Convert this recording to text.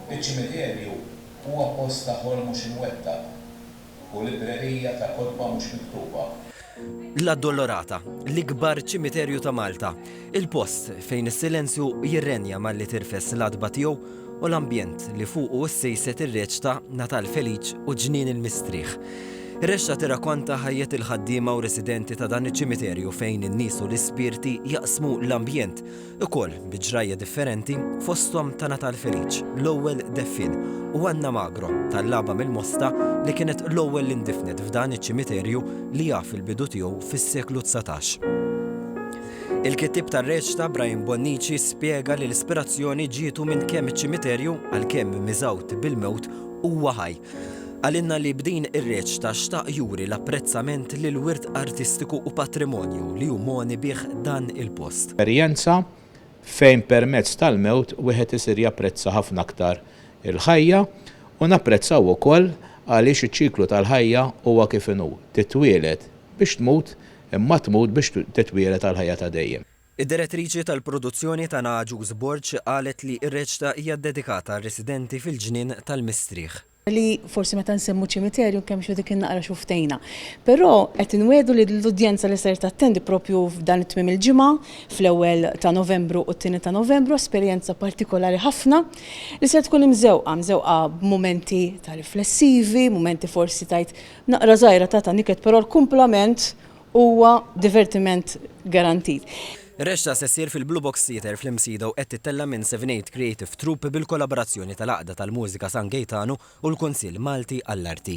Iċ-ċimiterju huwa post ta' ħolm mhux imwettaq u librerija ta' kotba mhux miktuba. L-Addolorata, l-ikbar ċimiterju ta' Malta, il-post fejn is-silenzju jirrenja malli tirfes l-għatba tiegħu u l-ambjent li fuqu ssejset ir-reċta Natal Feliċ u Ġnien il-Mistrieħ. Ir-rexxa tirrakonta ħajjet il-ħaddiema u residenti ta' dan iċ-ċimiterju fejn in-nies u l-ispirti jaqsmu l-ambjent Ukoll bi ġrajja differenti, fosthom ta' Natal Feliċ, l-ewwel deffien, u Anna Magro, tal-Laba mill-Mosta, li kienet l-ewwel li ndifnet f'dan iċ-ċimiterju li jaf il-bidu tiegħu fis-seklu dsatax. Il-kittieb tar-reċta, Brian Bonnici, spjega li l-ispirazzjoni ġietu minn kemm iċ-ċimiterju, għalkemm miżgħud bil-mewt, huwa ħaj. Qalilna li b'din ir-reċta xtaq juri l-apprezzament lill-wirt artistiku u patrimonju li hu mogħni bih dan il-post. Esperjenza fejn permezz tal-mewt wieħed isir japprezza ħafna aktar il-ħajja u napprezzaw ukoll għaliex iċ-ċiklu tal-ħajja huwa kif inhu, titwieled biex tmut imma tmut biex titwieled għall-ħajja ta' dejjem. Id-Direttriċi tal-Produzzjoni Tana Agius Borg qalet li r-reċta hija ddedikata għar-residenti fil-Ġnien tal-Mistrieħ. li forsi meta nsemmu ċimiterju nkemmxu dik in-naqra xufftejna. Però qed inwiegħdu li l-udjenza li ser tattendi proprju f'dan it-tmiem il-ġimgħa, fl-ewwel ta' Novembru u t-tieni ta' Novembru, esperjenza partikolari ħafna li ser tkun imżewqa, mżewqa b'mumenti ta' riflessivi, mumenti forsi tgħid naqra żgħira ta' taniket però l-kumplament Huwa divertiment garantit. Ir-rexxa se ssir fil-Blue Box Theatre fl-Imsida u qed tittella' minn Seven Eight Creative Troupe bil-kollaborazzjoni tal-Għaqda tal-Mużika San Gejtanu u l-Kunsill Malti għall-Arti.